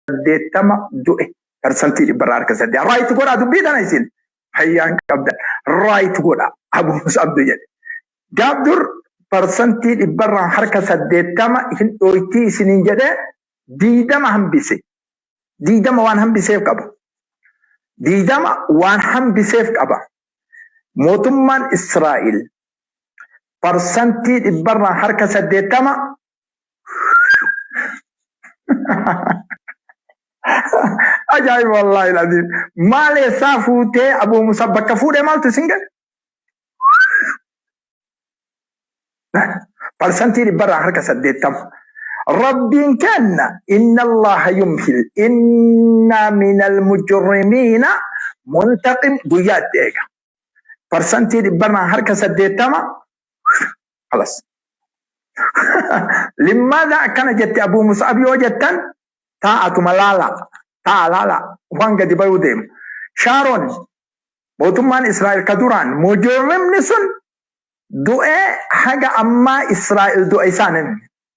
saddeettama du'e parsantii dhibba irraa harka saddeet raayit godhaa dubbii tana isin fayyaan qabdan raayit godhaa abuus abdu jedhe gaaf dur parsantii dhibba irraa harka saddeettama hin dhooytii isiniin jedhe diidama hambise diidama waan hambiseef qaba diidama waan hambiseef qaba mootummaan Israa'el parsantii dhibba irraa harka saddeettama Ajaa'iba wallaahi laziim. Maal eessaa fuutee Abuu Musa bakka fuudhee maaltu isin ga'e? Parsantii dhibbarraa harka saddeettama. Rabbiin kenna inna Allaha yumhil inna minal mujrimiina muntaqim guyyaa itti eega. Parsantii dhibbarraa harka saddeettama kalas. Limmaadha akkana jette Abuu Mus'ab yoo jettan taa'atuma laala taa'a laala waan gadi bayuu deema. Shaaroon mootummaan Israa'el ka duraan mojoorrimni sun du'ee haga ammaa Israa'el du'a isaan hin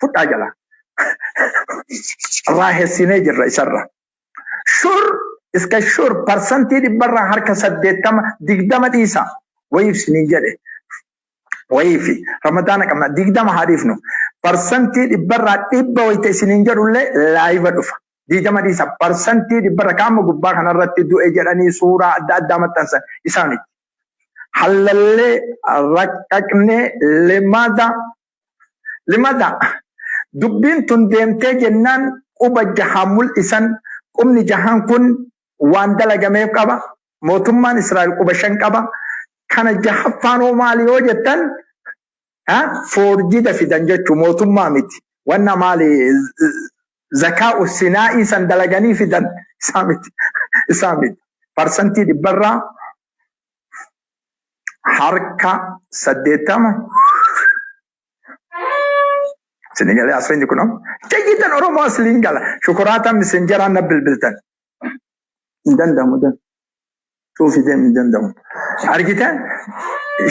fudhaa jala raahessinee jirra isarra shur iska shur parsantii dhibbarraa harka saddeettama digdama dhiisa wayiif sinii jedhe wayiifi ramadaana qabna digdama haa dhiifnu parsantii dhibbarraa dhibba wayita isiniin jedhullee laayiva dhufa digdama dhiisa parsantii dhibbarra kaama gubbaa kanarratti du'e jedhanii suuraa adda addaa maxxansan isaa miti hallallee raqqaqnee lemmaata Limata, Dubbiin tun deemtee jennaan quba jahaan mul'isan, qubni jahaan kun waan dalagameef qaba, mootummaan Israa'el quba shan qaba, kana jahaffaan hoo maali yoo jettan foorjida fidan jechuu mootummaa miti, wanna maali zakaa'u sinaa'ii san dalaganii fidan isaa miti, isaa miti. Parsantii dhibbarraa harka saddeettama isinii galee asliin kunoo jayyitan oromoo asliin gala shukuraataan misenjaraan na bilbiltan hin danda'amu dan cuufi deemu hin danda'amu argite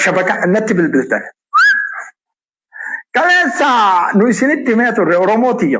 shabaka natti bilbiltan kaleessa nu isinitti himee turre oromoo tiyya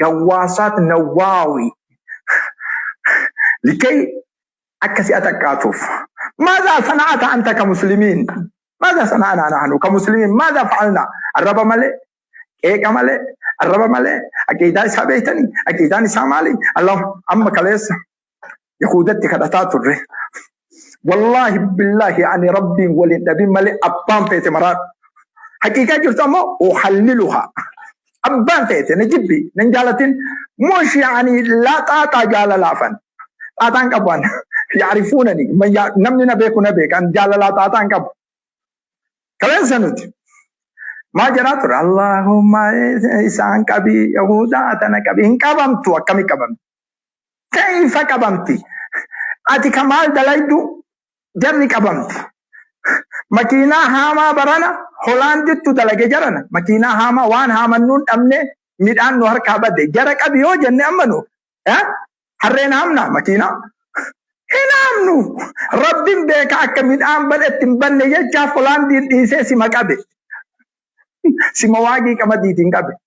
Gawwaasaat Nawwaawi likay akka si'a taqqaatuuf. Maazaa sana'ata anta ka muslimiin? Maazaa sana'anaa nahnu ka muslimiin? Maazaa fa'alnaa? Arraba malee, qeeqa malee, arraba malee, aqiidaa isaa beektanii? Aqiidaan isaa maali? Allahu amma kaleessa Yahuudatti kadhataa turre. Wallaahi billaahi ani rabbiin waliin dhabin malee abbaan feete maraadhu. Haqiiqaa jirtu ammoo uhalliluhaa. Abbaan feete na jibbi nan jaalatin mushi ani laa xaaxaa jaalalaafan. Xaaxaan qabu ani. Yaarifuunani namni na beeku na beeka ani jaalalaa xaaxaan qabu. Kaleessa nuti maa jedhaa ture Allahumma isaan qabii Yahuudaa tana qabii hin qabamtu akkamii qabamti. Keyfa qabamti ati ka maal dalaydu jarri qabamti makiinaa haamaa barana holaandittu dalage jarana makiinaa haamaa waan haamannuu hin dhabne midhaan nu harkaa bade jara qabi yoo jenne amma nu harreen haamna makiinaa hin haamnu rabbin beeka akka midhaan badhetti hin banne jechaaf holaandiin dhiisee sima qabe sima waagii qamadiitiin qabe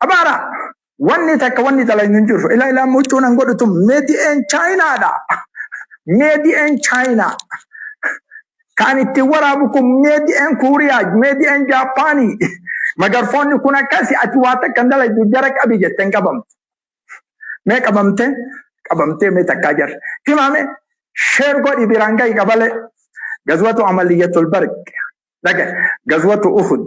Abaara wanni takka wanni dalaynu hin jirru. Ila ilaa muccuun an godhutu meedi'een chaayinaadha. Meedi'een chaayinaa. Kan ittiin waraabu kun meedi'een kuuriyaa, meedi'een jaappaanii. Magarfoonni kun akkasi ati waa takka hin dalaydu jara qabi jette hin qabamtu. Mee qabamtee qabamtee mee takkaa jarri. Himaame sheer godhi biraan gahi qabalee. Gazwatu amaliyyatul barq. Dhagahi. Gazwatu uhud.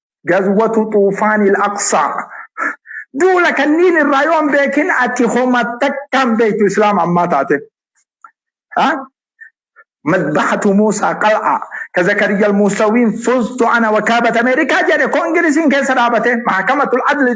Gazwatu Xuufaanil Aqsaa. Duula kanniin irraa yoo hin beekin ati homa takka hin beektu Islaama ammaa taate. Madbahatu Muusaa Qal'aa. Ka Zakariya Almuusawiin fuztu ana wakaabata Ameerikaa jedhe koo Ingiliziin keessa dhaabate. Mahakamatul Adli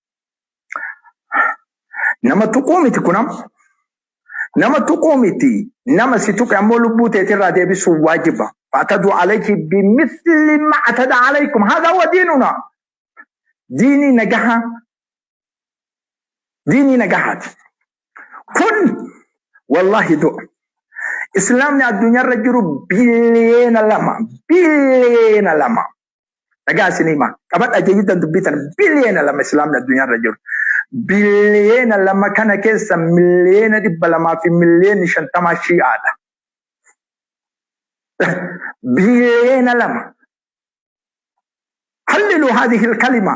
Nama tuquu miti kun amma. Nama tuquu miti. Nama si tuqe ammoo lubbuu teetirraa deebisuu waajiba. Fa'atadu alayhi bimisli ma'atada alaykum. Haadha wa diinuna. Diinii nagahaa. Diinii nagahaati. Kun wallaahi du'a. Islaamni addunyaarra jiru biliyeena lama. Biliyeena lama. Dhagaa isin himaa. Qabadha jechuutan dubbii tana biliyeena lama islaamni addunyaa irra jiru. Biliyeena lama kana keessa miliyeena dhibba lamaa fi miliyeeni shantamaa shi'aadha. Biliyeena lama. Hallilu haadhihi kalima.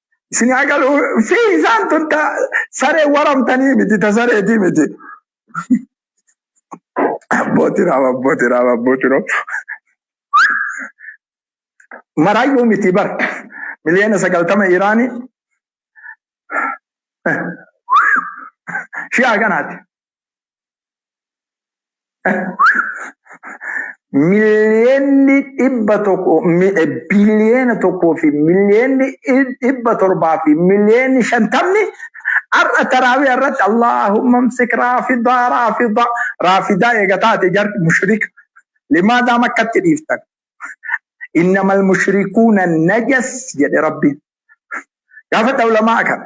Isin haa galuu fi isaan tun ta saree waramtanii miti ta sareetii miti. Abbooti raam abbooti raam abbooti raam. Maraayyuu miti bar miliyoona sagaltama Iraanii shi'aa kanaati. Miliyoonni dhibba tokko biliyoona tokkoo fi miliyoonni dhibba torbaa fi miliyoonni shantamni har'a taraawii irratti Allaahumma amsik raafidaa raafidaa raafidaa eega taate jarri mushrika limaadaa makkatti dhiiftan innamal mushrikuuna najas jedhe rabbiin gaafadha ulamaa kana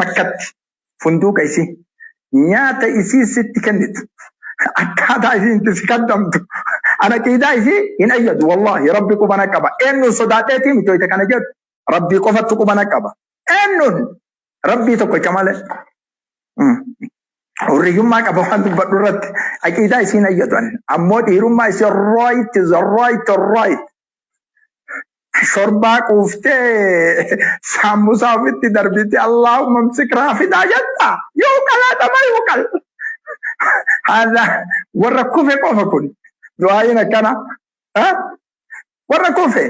makkatti funduuqa isii nyaata isii sitti kennitu akkaataa isiin itti si kaddamtu ana qiidaa isii hin ayyadu wallaahi rabbi qubana qaba eennuun sodaadheetii miti hoyta kana jedhu rabbii qofattu qubana qaba eennuun rabbii tokkocha malee Mm. hurriyyummaa qaba waan dubbadhu irratti aqiidaa isiin ayyadu ani ammoo dhiirummaa isii right is right right Shorbaa quuftee saammusaa ofitti darbite Allaahumma msik raafidaa jetta. Yoo qalaata ma yoo qal. Haadha warra kufe qofa kun. Du'aayiin akkana. Ha? Warra kufe.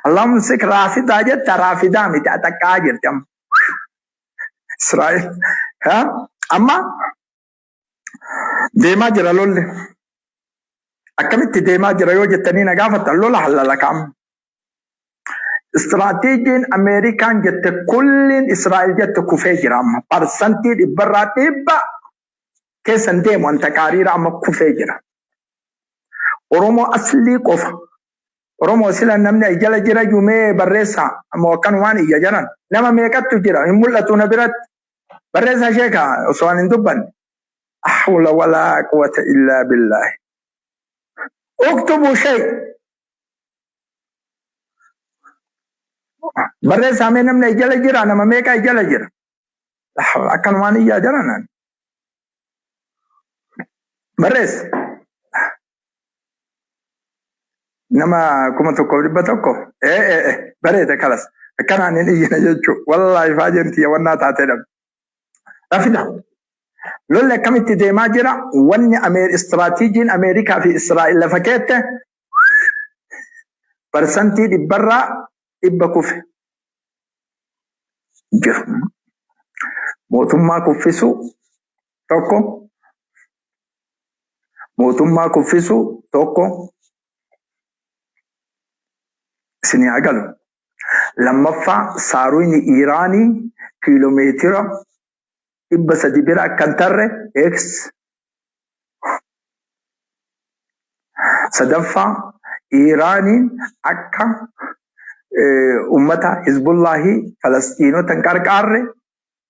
Allaahumma msik raafidaa jetta raafidaa miti axaqqaa jirti amma. Israa'el. Ha? Amma Deemaa jira lolli. Akkamitti deemaa jira yoo jettanii na gaafatan lola hallalakaam. Istiraateejiin Ameerikaan jette kulliin Israa'el jette kufee jira amma. Parsantii dhibbarraa dhibba keessan deemu wanta qaariira amma kufee jira. Oromoo aslii qofa. Oromoo sila namni as jala jira jumee barreessaa ammoo akkanumaan iyya jaran. Nama meeqattu jira hin mul'atu na biratti. Barreessaa sheeka osoo ani hin dubbanne. Ahwla walaa quwwata illaa billaahi. Uktubu shay. Barreessaa mee namni ay jala jira nama meeqa ay jala jira. Akkanumaan iyyaa jaranaan. Barreessa. nama kuma tokkoof dhibba tokko ee ee ee bareeda kalas akkanaan hin iyyina jechuu wallaahi faajeen tiyya wannaa taatee dhabe rafida lolli akkamitti deemaa jira wanni Ameer- istiraatiijiin ameerikaa fi israa'el lafa keette parsantii dhibbarraa dhibba kufe jiru mootummaa kuffisuu tokko Mootummaa kuffisu tokko isinii haa galu. Lammaffaa saaruyni Iiraanii kiiloomeetira dhibba sadi bira akka hin tarre X. Sadaffaa Iiraaniin akka ummata Hizbullaahii Falasxiinota hin qarqaarre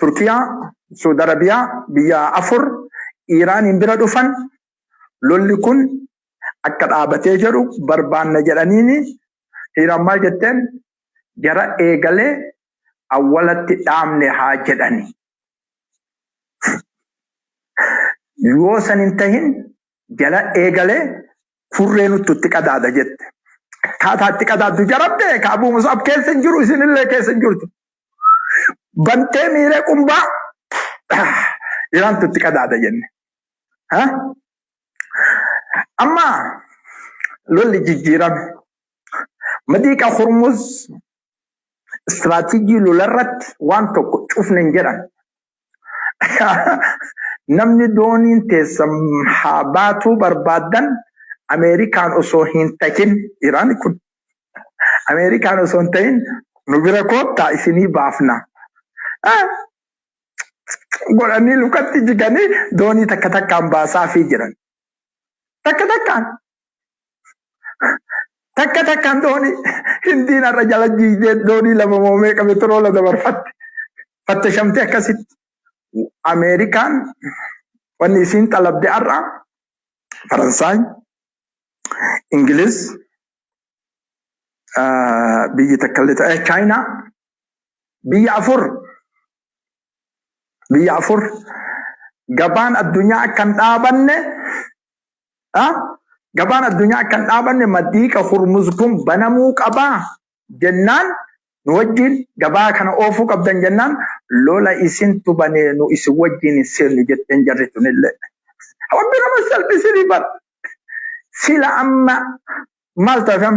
Turkiyaa, Suud Arabiyaa biyya afur Iiraaniin bira dhufan lolli kun akka dhaabatee jedhu barbaanna jedhaniini Iiraan maal jetteen jara eegalee awwalatti dhaabne haa jedhani. Yoo san hin tahin jara eegalee furree nuttu itti qadaada jette. Akkaataa itti qadaaddu jara beeka Abuu Mus'ab keessa hin jiru isinillee keessa hin jirtu. bantee miiree qumbaa iraantu itti qadaada jenne. Ha? Amma lolli jijjiirame. Madiiqa Hormuz istiraatiijii lolarratti waan tokko cufne hin jedhan. Namni dooniin teessan haa baatuu barbaaddan Ameerikaan osoo hin tahin Iraan kun Ameerikaan osoo hin tahin nu bira koottaa isinii baafna. Godhanii lukatti jiganii doonii takka takkaan baasaafii jiran. Takka takkaan Takka takkaan doonii hindiin har'a jala jiigdee doonii lama moo meeqa petroola dabarfatte. Fattashamtee akkasitti. Ameerikaan wanni isiin xalabde har'a Faransaay, Ingiliz, ah, biyyi takka illee ta'e Chaayinaa biyya afur biyya afur gabaan addunyaa akka hin dhaabanne dha. Gabaan addunyaa akka hin dhaabanne maddiiqa Hurmuz kun banamuu qaba jennaan nu wajjiin gabaa kana oofuu qabdan jennaan lola isintu banee nu isin wajjiin hin seennu jetteen jarri tunillee. Rabbi nama salphisini bar. Sila amma maal taatan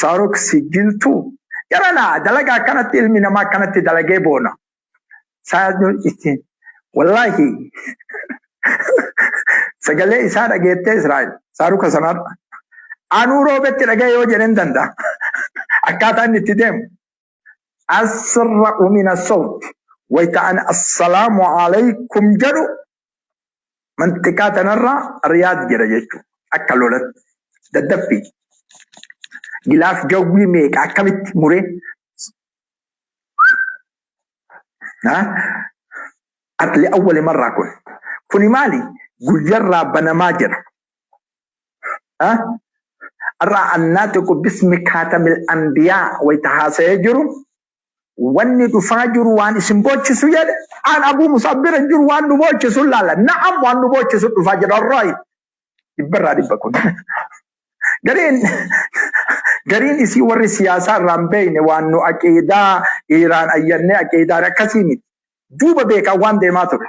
Saarok si jiltuu jarana dalaga akkanatti ilmi namaa akkanatti dalagee boona. Saarok ittiin wallaahi sagalee isaa dhageettee Israa'el saaruka sanarra. Anuu roobetti dhaga'e yoo jedheen danda'a. Akkaataa inni itti deemu. asra'u min asawti wayta an assalaamu alaykum jedhu manxiqaa tanarraa riyaad jedha jechuu akka lolatti daddaffii gilaaf jawwii meeqa akkamitti muree li awwali marraa kun kuni maali guyyarraa banamaa jedha Har'a annaatiqu bismi kaatamil anbiyaa wayta haasa'ee jiru wanni dhufaa jiru waan isin boochisu jedhe aan abuu musaaf bira jiru waan nu boochisu laala na'am waan nu boochisu dhufaa jira raayi dhibbarraa dhibba kun gariin gariin isii warri siyaasaa irraan beeyne waan nu aqiidaa dhiiraan ayyannee aqiidaan akkasii miti duuba beekaa waan deemaa ture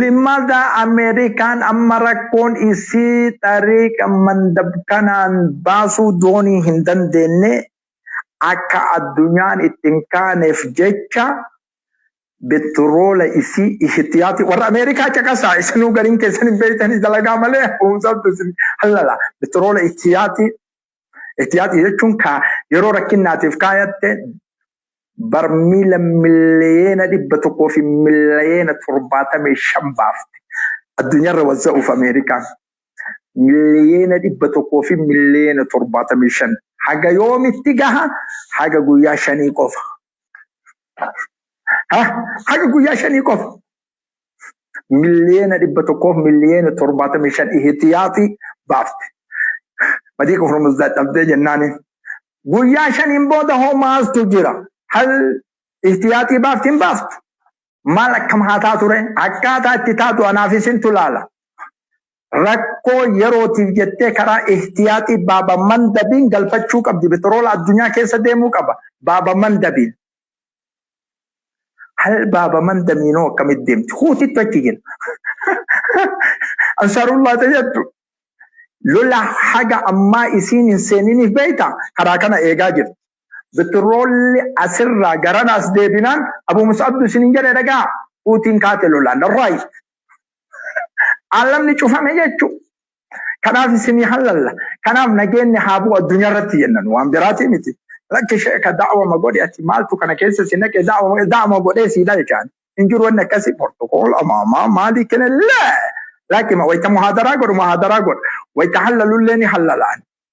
Limaza Ameerikaan amma rakkoon isii xariiqa mandab kanaan baasuu doonii hin dandeenye akka addunyaan itti hin kaaneef jecha betroola isii ihtiyaati warra Ameerikaa caqasaa isinuu gariin keessan hin beektanii dalagaa malee humsabtu isin hallala betroola ihtiyaati Ihtiyaaxii jechuun kaa yeroo rakkinnaatiif kaayatte barmiila miliyeena dhibba tokkoo fi miliyeena torbaatamii shan baafte. Addunyaarra wazza'uuf Ameerikaan miliyeena dhibba tokkoo fi miliyeena torbaatamii shan haga yoomitti gaha haga guyyaa shanii qofa. Ha? Haga guyyaa shanii qofa. miliyoona dhibba tokkoof miliyoona torbaatamii shan ihitiyaati baafte. Madiika Hormuz dadhabdee jennaani. Guyyaa shaniin booda hoo maaltu jira? Hal ihtiyaaxii baafti hin baaftu? Maal akkam haa taatu ree? Akkaataa itti taatu anaaf isintu laala. Rakkoo yerootiif jettee karaa ihtiyaaxii baaba mandabiin galfachuu qabdi. Petroola addunyaa keessa deemuu qaba. Baaba mandabiin. Hal baaba man damiinoo akkamitti deemti? Huutittu achi jira. Ansaarullaa tayyattu. Lola haga ammaa isiin hin seeniniif beeyta karaa kana eegaa jirti. Bitirroolli asirraa garana as deebinaan Abuu Mus'abdu isin hin jedhe dhagaa huutiin kaate lolaan raayi. Aalamni cufame jechuu. Kanaaf isinii hallalla. Kanaaf nageenni haa bu'u addunyaa irratti jenna nu waan biraatii miti. Lakki sheeka da'awama godhi ati maaltu kana keessa si naqe da'awama da'awama godhee si dhalchaan. Hin jiru wanni akkasii portokool amaamaa maalii kenellee. Lakki ma wayita muhaadaraa godhu muhaadaraa godha. Wayita hallalullee ni hallalaan.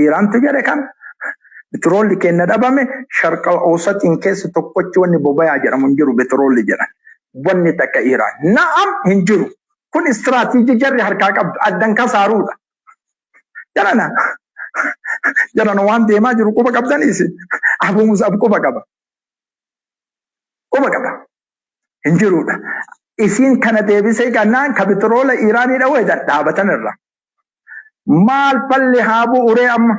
Iiraantu jedhe kana. Betiroolli keenna dhabame sharqa Oosatiin keessa tokkochi wanni bobayaa jedhamu hin jiru betiroolli jedhan. Wanni takka Iiraan. Na'am hin jiru. Kun istiraatiijii jarri harkaa qabdu addan kasaaruudha. Jarana jarana waan deemaa jiru quba qabdanii isin. Abu Musab quba qaba. Quba qaba. Hin jiruudha. Isiin kana deebisee gannaan ka bitiroola Iiraanii dhawuu hedan dhaabatan irra. maal falli haa bu'uree amma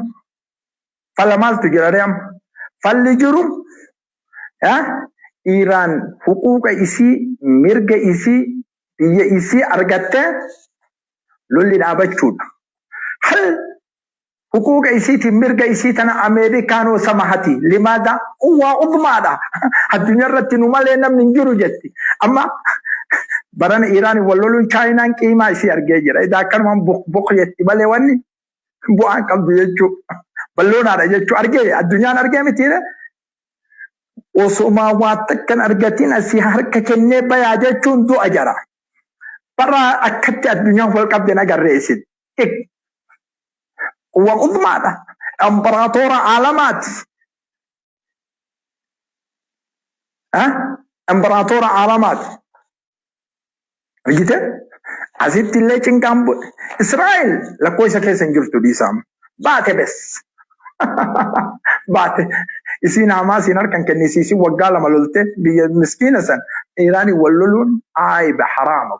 fala maaltu jiraree amma falli jiru Iraan huquuqa isii mirga isii biyya isii argattee lolli dhaabachuudha. Hal Huquuqa isiitii mirga isii tana Ameerikaan hoo samahati? Limaada? Kun waa ufumaadha. Addunyaa irratti nu malee namni hin jiru jetti. Amma barana Iiraaniin wal loluun Chaayinaan qiimaa isii argee jira. Edaa akkanumaan buk buk jetti malee wanni bu'aa hin qabdu jechuu. Balloonaadha jechuu argee addunyaan argee mitiire. Osomaa waa takkan argatiin asii harka kennee bayaa jechuun du'a jara. Bara akkatti addunyaan wal qabde hin agarree isin. Waaqummaadha. Imperaatoora Aalamaati. Imperaatoora Aalamaati. Argite? Asitti illee cinqaan bu'e. Israa'el lakkoo isa keessa hin jirtu dhiisaam. Baate bes. Baate. Isiin haamaa siin harkan kennisiisin waggaa lama lolte biyya miskiina san Iraaniin wal loluun aayba haraama.